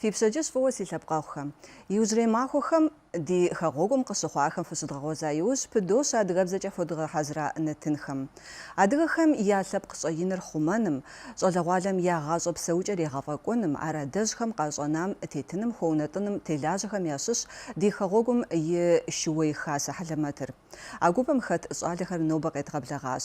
Фи пщэдджыжь фӏыуэ си лъэпкъэгъухэм. Иужьрей махуэхэм ди хэгъуэгум къыщыхъуахэм фыщыдгъэгъуэза иужь, пыдощэ адыгэбзэкӏэ фхуэдгъэхьэзыра нэтынхэм. Адыгэхэм я лъэпкъ щӏэиныр хъумэным, щӏалэгъуалэм я гъащӏэ псэукӏэр егъэфӏэкӏуэным, ар адэжьхэм къащӏэнам тетыным, хуэунэтӏыным телажьэхэм ящыщщ ди хэгъуэгум и шууей хасэ хьэлэмэтыр. А гупым хэт щӏалэхэр нобэ къедгъэблэгъащ.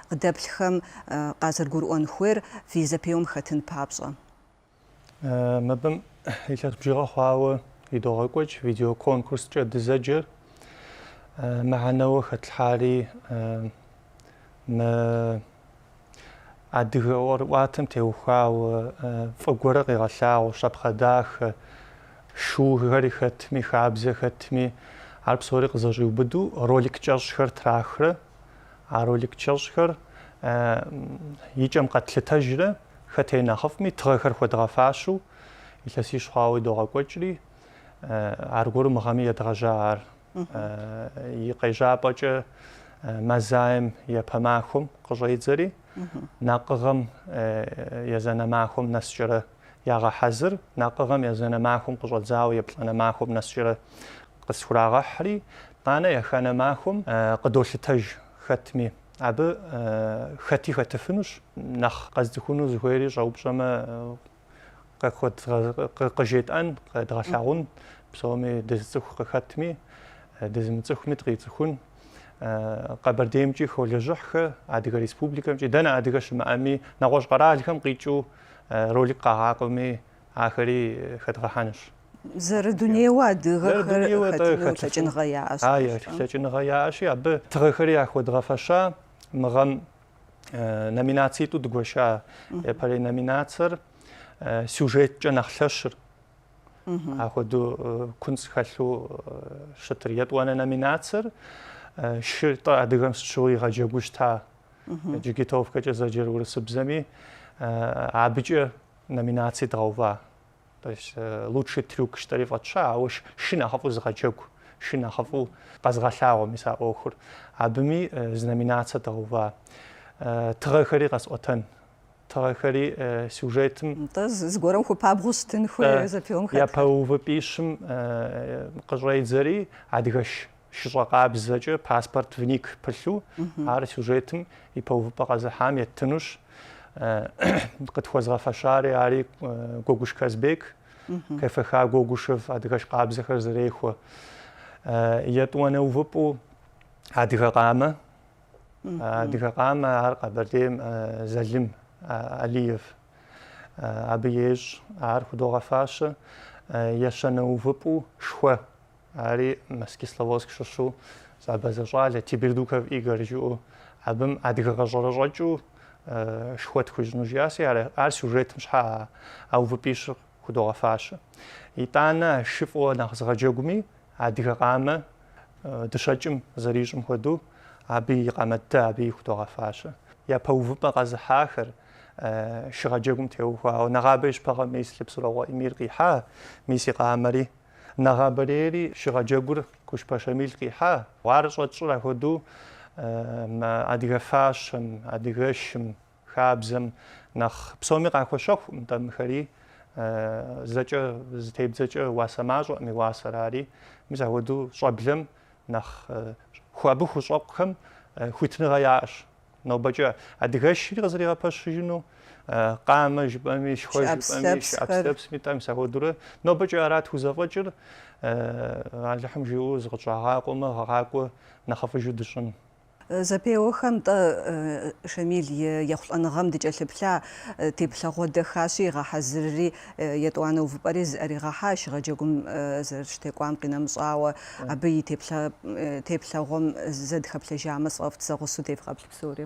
Къыдэплъхэм къазэрыгурыӏуэн хуейр фи зэпеуэм хэтын папщӏэ. Мыбым илъэс бжыгъэ хъуауэ идогъэкӏуэкӏ видеоконкурскӏэ дызэджэр. Мыхьэнэуэ хэтлъхьари мы адыгэ ӏуэрыӏуатэм теухуауэ фӏы гуэрэ къигъэлъагъуэ, щапхъэ дахэ, шуухэри хэтми, хабзэ хэтми, ар псори къызэщӏиубыду ролик кӏэщӏхэр трахрэ. А ролик кӏэщӏхэр и кӏэм къэтлъытэжрэ хэт ей нэхъыфӏми тыгъэхэр хуэдгъэфащэу илъэсищ хъуауэ идогъэкӏуэкӏри, аргуэру мы гъэми едгъэжьа ар. И къежьапӏэкӏэ Мазаем япэ махуэм къыщӏедзэри, Накъыгъэм езанэ махуэм нэскӏэрэ Ягъэхьэзыр, накъыгъэм езанэ махуэм къыщӏэдзауэ еплӏанэ махуэм нэскӏэрэ къысхурагъэхьри, Тӏанэ еханэ махуэм къыдолъытэж хэтми. Абы хэти хэтыфынущ, нэхъ къэзыцӏыхуну зыхуейри щӏэупщӏэмэ, къыжетӏэн, къэдгъэлъагъун, псоми дызыцӏыху къыхэтми, дызымыцӏыхуми дыкъицӏыхун. Къэбэрдеймкӏи холэжьыхьхэ, Адыгэ Республикэмкӏи, дэнэ адыгэ щымыӏэми, нэгъуэщӏ къэралхэм къикӏыу ролик къагъакӏуэми, ахэри хэдгъэхьэнущ. Зэрыдунейуэ адыгэхэр хэтыну лъэкӏыныгъэ яӏэщ. А, лъэкӏыныгъэ яӏэщи, абы тыгъэхэри яхуэдгъэфэща, мы гъэм номинацитӏу дгуэша япэрей номинацэр сюжеткӏэ нэхъ лъэщыр. Апхуэдэу куцӏ хэлъу щытыр етӏуанэ номинацэр шы тӏэ адыгэм сыт щыгъуи игъэджэгуу щыта джигитовкэкӏэ зэджэр урысыбзэми абыкӏэ номинаци дгъэува. То есть лучший трюк жытӏэри фӏэтща, ауэ шы нэхъыфӏу зыгъэджэгу, шы нэхъыфӏу къэзгъэлъагъуэ мис а ӏуэхур. Абыми зы номинацэ дгъэува. Тыгъэхэри къэсӏуэтэн. тыгъэхэри сюжетым. Нтӏэ, зыгуэрым хуэпабгъэу щытын хуейр зэпеуэм хэтхэр. Япэ увыпӏищым къыщӏедзэри адыгэ шыщӏэ къабзэкӏэ паспорт ВНИИК пылъу, ар сюжетым япэ увыпӏэ къэзыхьам еттынущ. Къытхуэзгъэфэщари ари Гуэгуш Казбек, КФХ Гогушев адыгэш къабзэхэр зэрехуэ. Етӏуанэ увыпӏэу адыгэ къамэ Адыгэ къамэ ар Къэбэрдейм Залым Алиев абы ещӏ. Ар худогъэфащэ, ещанэ увыпӏу шхуэ. Ари мэс Кисловодск щыщу зы абазэ щӏалэ Тебердуков Игорь жыӏэу абым адыгэ гъэщӏэрэщӏэкӏэу шхуэ тхуищӏыну жиӏаси, ар сюжетым щхьэ а увыпӏищыр худогъэфащэ. Итӏанэ шы фӏыуэ нэхъ зыгъэджэгуми Адыгэ къамэ дыщэкӏым зэрищӏым хуэдэу, абы и къамэ тӏэ абыи худогъэфащэ. Япэ увыпӏэ къэзыхьахэр шыгъэджэгум теухуауэ, нэгъабэ и щыпэ гъэ мис Лъэпсырыкъуэ Амир къихьа, мис и къамэри. Нэгъабэрейри шыгъэджэгур Кушпэ Шамиль къихьа. Ар щӏэтщӏыр ахуэдэу адыгэ фащэм, адыгэшым. Хабзэм нэхъ псоми къахуэщэхукъым тӏэ мыхэри, зэкӏэ зытебдзэкӏэ уасэ мащӏэӏым и уасэр ари. Мис апхуэдэу щӏэблэм нэхъ абы хущӏэкъухэм хуитыныгъэ яӏэщ. Нобэкӏэ адыгэшри къызэригъэпэщыжыну, къамэ жыпӏэми, шхуэ жыпӏэми, шы ӏэпслъэпсми тӏэ, мис апхуэдэурэ нобэкӏэ ара тхузэфӏэкӏыр, Алыхьым жиӏэу зыкъытщӏагъакъуэмэ, гъэ къакӏуэ нэхъыфӏыжу дыщӏын. Зэпеуэхэм тӏэ, Шамил и ехъулӏэныгъэм дыкӏэлъыплъа, теплъэгъуэ дахащэ игъэхьэзырри, етӏуанэ увыпӏэри зыӏэригъэхьа, шыгъэджэгум зэрыщытекӏуам къинэмыщӏауэ, абы и теплъэгъуэм зэ дыхэплъэжамэ, сфӏэфӏт сэ гъусэу девгъэплъ псори.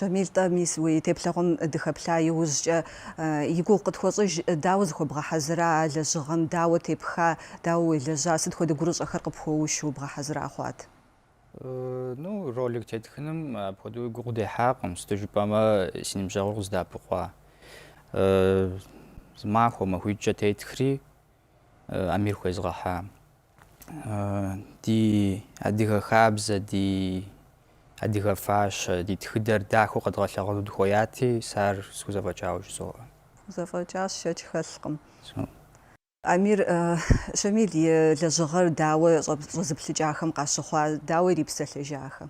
Шамиль, тӏэ мис уи теплъэгъуэм дыхэплъа иужькӏэ и гугъу къытхуэщӏыж, дауэ зыхуэбгъэхьэзыра а лэжьыгъэм, дауэ тепха, дауэ уелэжьа, сыт хуэдэ гурыщӏэхэр къыпхуэушу бгъэхьэзыра хъуат? Э, ну, ролик тетхыным апхуэдэуи гугъу дехьакъым, сыту жыпӏэмэ си ныбжьэгъур къыздэӏэпыкъуа. Зы махуэ махуитӏкӏэ тетхри Амир хуезгъэхьа. Ди адыгэ хабзэ, ди адыгэ фащэ, ди тхыдэр дахэу къэдгъэлъэгъуну дыхуеяти, сэ ар схузэфӏэкӏауэ жызоӏэ. Фхузэфӏэкӏащ, шэч хэлъкъым. Амир, Шамил и лэжьыгъэр дауэ щӏэзыплъыкӏахэм къащыхъуа, дауэ ирипсэлъэжахэм?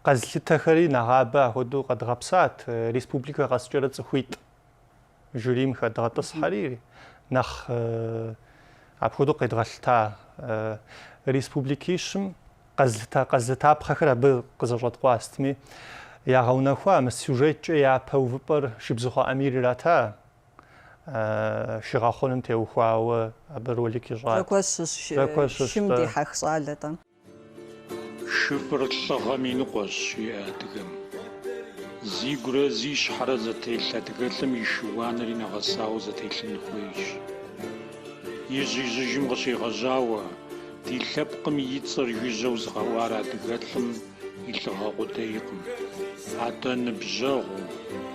Къэзылъытэхэри нэгъабэ ахуэдэу къэдгъэпсат, республикэ къэскӏэрэ цӏыхуитӏ жюрийм хэдгъэтӏысхьэри, нэхъ апхуэдэу къедгъэлъыта республикищым къэз къэзылъытапхъэхэр абы къызэщӏэткъуастми, ягъэунэхуа мы сюжеткӏэ япэ увыпӏэр Шыбзыхъуэ Амир ирата. шы гъэхъуным теухуауэ абы ролик ищӏат. Зэкуэщ шым дихьэх щӏалэ-тӏэ. Шыфӏыр лӏыгъэм и ныкъуэщ, жиӏэ адыгэм. Зигурэ зи щхьэрэ зэтелъ адыгэлӏым и шы-уанэри нэгъэсауэ зэтелъын хуейщ. Ижь-ижьыжым къыщегъэжьауэ, ди лъэпкъым и цӏэр жыжьэу зыгъэӏуар адыгэлӏым, И лӏыгъэ къудейкъым. Атӏэ ныбжьэгъуу,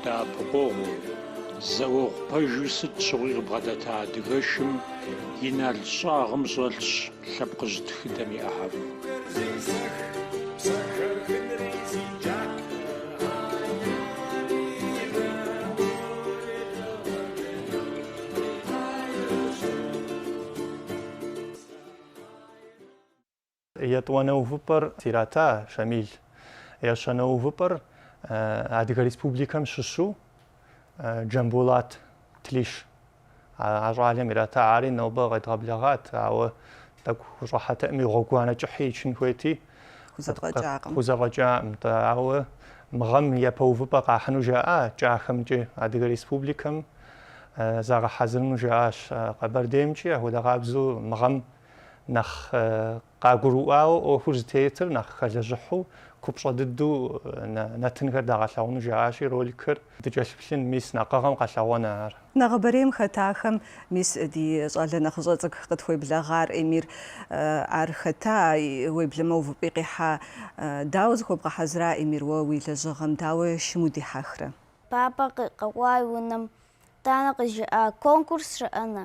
дэӏэпыкъуэгъуу, зауэгъу пэжу сыт щыгъуи къыбгъэдэта адыгэшым и нал щӏагъым щӏэлъщ лъэпкъыжь тхыдэм и ӏыхьэм. Етӏуанэ увыпӏэр зрата Шамил. Ещанэ увыпӏэр Адыгэ Республикэм щыщу Джамбулат Тлиш. А щӏалэм ирата, ари нобэ къедгъэблэгъат, ауэ тӏэкӏу хущӏыхьэтэкъыми, гъуэгуанэ кӏыхьи ичын хуейти, хузэфӏэкӏакъым, ауэ мы гъэм япэ увыпӏэ къахьыну жаӏа кӏахэмкӏи, Адыгэ Республикэм загъэхьэзырыну жаӏащ. Къэбэрдеймкӏи апхуэдэ къабзэу мы гъэм Нэхъ къагурыӏуауэ ӏуэхур зытетыр, нэхъ хэлэжьыхьу, купщӏэ дыдэу нэтынхэр дагъэлъэгъуэну жаӏащи, роликыр дыкӏэлъыплъын, мис нэкъыгъэм къэлъэгъуэн ар. Нэгъабэрейм хэтахэм, мис ди щӏалэ нэхъыщӏэ цӏыкӏу къытхуеблэгъар, Эмир, ар хэта, уеблэмэ увыпӏи къихьа, дауэ зыхуэбгъэхьэзыра, Эмир, уэ уи лэжьыгъэм дауэ шым удихьэхрэ? Папэ къэкӏуа и унэм итӏанэ къыжиӏа конкурс щыӏэна?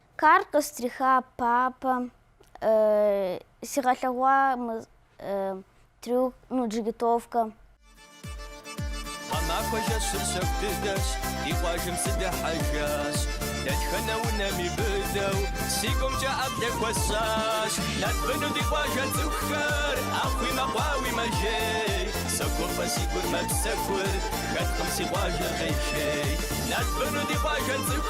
Карл къыстриха папэм сигъэлъэгъуа мы трюк, ну, джигитовкэ. Гъэмахуэ жэщыр щэху дыдэщ, ди къуажэм сыдыхьэжащ. Дэтхэнэ унэми быдэу, си гумкӏэ ӏэплӏэ хуэсщӏащ. Нэтбыну ди къуажэ цӏыхухэр, ӏэхъуи мэкъуауи мэжей. Согуфӏэ си гур мэпсэхур, хэткъым си къуажэр къежей. Нэтбыну ди къуажэ цӏыху.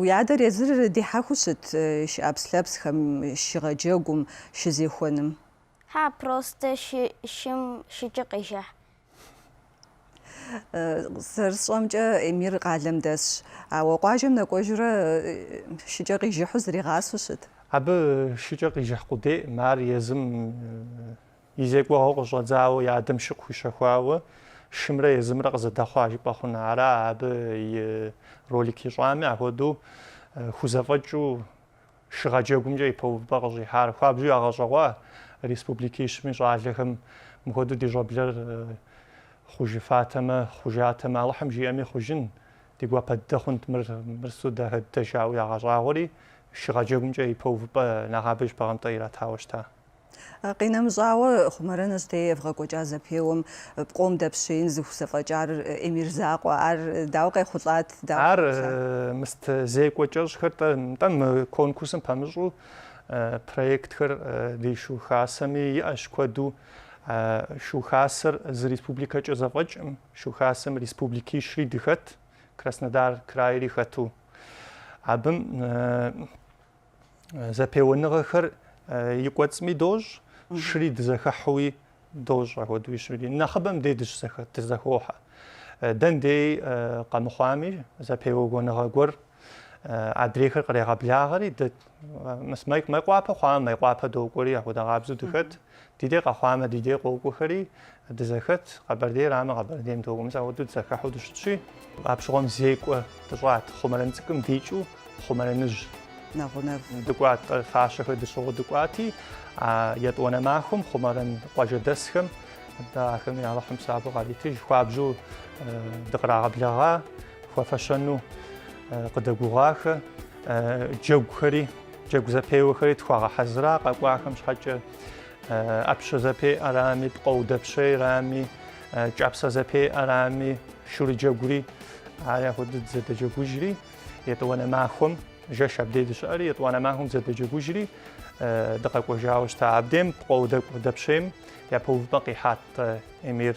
Уи адэр езыр дихьэхыу щыт шы ӏэпслъэпсхэм, шы гъэджэгум, шы зехуэным? Хьа, простэ шыкӏэ къежыхь. Зэрысщӏэмкӏэ, Эмир къалэм дэсщ, ауэ къуажэм нэкӏуэжурэ шыкӏэ къижыхьу зригъасэу щыт? Абы шыкӏэ къижыхь къудейӏым, ар езым И зекӏуэгъуэ къыщӏэдзауэ и адэм шы къыхуищэхуауэ шымрэ езымрэ къызэдэхъуа жыпӏэ хъуна? Ара абы и ролик ищӏами, ахуэдэу хузэфӏэкӏыу шыгъэ джэгумкӏэ ипэ увыпӏэ къыщӏихьар? Хуабжьу ягъэщӏэгъуа республикищми щӏалэхэм мыхуэдэу ди щӏэблэр хъужыфатэмэ, хъужатэмэ? Алыхьым жиӏэми хъужын, ди гуапэ дыдэ хъунт мыр, мыр сыту дахэ дыдэ жаӏэу ягъэщӏагъуэри, шыгъэ джэгумкӏэ ипэ увыпӏэ нэгъабэ щыпэ гъэм тӏэ иратауэ щыта? Къинэмыщӏауэ, Хъумэрэныжь дей евгъэкӏуэкӏа зэпеуэм пкъом дэпщеин зыхузэфӏэкӏар Эмир закъуэ. Ар дауэ къехъулӏат? Ар мыст зекӏуэ кӏэщӏхэр тӏэ мы конкурсым пэмыщӏу проектхэр ди Шу Хасэми иӏэщ куэду. Шу Хасэр зы республикэкӏэ зэфӏэкӏым, Шу Хасэм республикищри дыхэт, Краснодар крайри хэту. Абым зэпеуэныгъэхэр и кӏуэцӏми дощӏ, щыри дызэхыхьуи дощӏ апхуэдэуи щыри. Нэхъыбэм дей дыщызэхохьэ. Дэн дей къэмыхъуами, зэпеуэныгъэ гуэр адрейхэр кърегъэблагъэри, дэ Мейкъуапэ хъуамэ, Мейкъуапэ докӏуэри, апхуэдэгъабзэу дыхэт. Ди дей къэхъуамэ, ди дей къокӏуэхэри, дызэхэт, Къэбэрдейрамэ, Къэбэрдейм докӏуэ. Мис ахуэдэу дызэхэхьу дыщытщи, апщыгъуэм зекӏуэ дыщӏат, Хъумэрэн цӏыкӏум дикӏыу Хъумэрэныжь нэгъунэ дыкӏуат, къэ- фащэхэр тщыгъыу дыкӏуати, а етӏуанэ махуэм Хъумэрэн къуажэдэсхэм дэ ахэм я Алыхьым псапэу къаритыж, хуабжьу э, дыкърагъэблэгъа, хуэфэщэну э, къыдэгугъуахэ э, джэгухэри. Джэгу зэпеуэхэри тхуагъэхьэзыра къэкӏуахэм щхьэкӏэ ӏэпщэ зэпеӏэрами, пкъоу дэпщейрами, кӏапсэ зэпеӏэрами, шурыджэгури ар ахуэдэу дызэдэджэгужри, етӏуанэ махуэм жэш абдей дыщыӏэри, етӏуанэ махуэм дызэдэджэгужри дыкъэкӏуэжауэ щыта. Абдейм пкъоу дэпщейм япэ увыпӏэ къихьат Эмир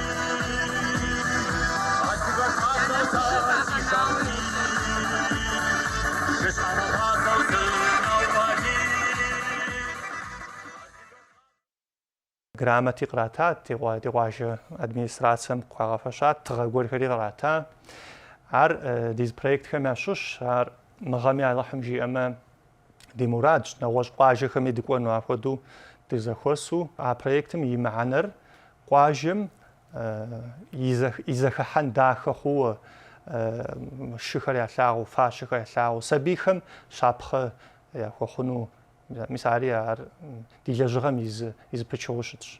Грамоти къратат, ди къуажэ администрацэм къыхуагъэфэщат тыгъэ гуэрхэри кърата. Ар ди зы проектхэм ящыщщ, ар мы гъэми Алыхьым жиӏэмэ ди мурадщ, нэгъуэщӏ къуажэхэми дыкӏуэну апхуэдэу дызэхуэсу. А проектым и мыхьэнэр къуажэм и зэхыхьэн дахэ хъууэ шыхэр ялъагъу, фащэхэр ялъагъу, сабийхэм щапхъэ яхуэхъуну, мис ари ар Ди лэжьыгъэм и зы, и зы пычыгъуэу щытщ.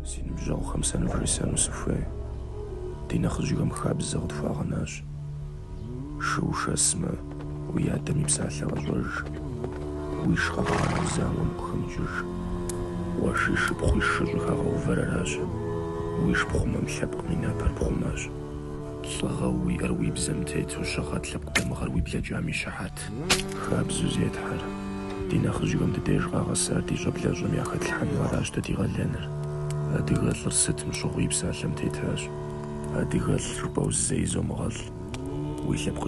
Си ныбжьэгъухэм сэ нывжесӏэну сыхуей. Ди нэхъыжьхэм хабзэ къытхуагъэнащ. Шы ушэсмэ, уи адэм и псалъэ къэщӏэж. Уи шы къэбгъанэу зауэм укъыхэмыкӏыж. Къуэши шыпхъуи шы щӏыхэгъэувэр аращ. Уи шы пхъумэм лъэпкъым и напэр пхъумащ. Лӏыгъэ уиӏэр уи бзэм тету щыгъэт лъэпкъ дамыгъэр уи блэкӏам и щыхьэт. Хабзэу зетхьэр, ди нэхъыжьхэм ди деж къагъэсар ди щӏэблэщӏэм яхэтлъхьэну аращ дэ ди къалэныр. Адыгэлӏыр сытым щыгъуи псалъэм тетащ. Адыгэлӏ жыпӏэу зэи зомыгъэлӏ. Уи лъэпкъыжьыр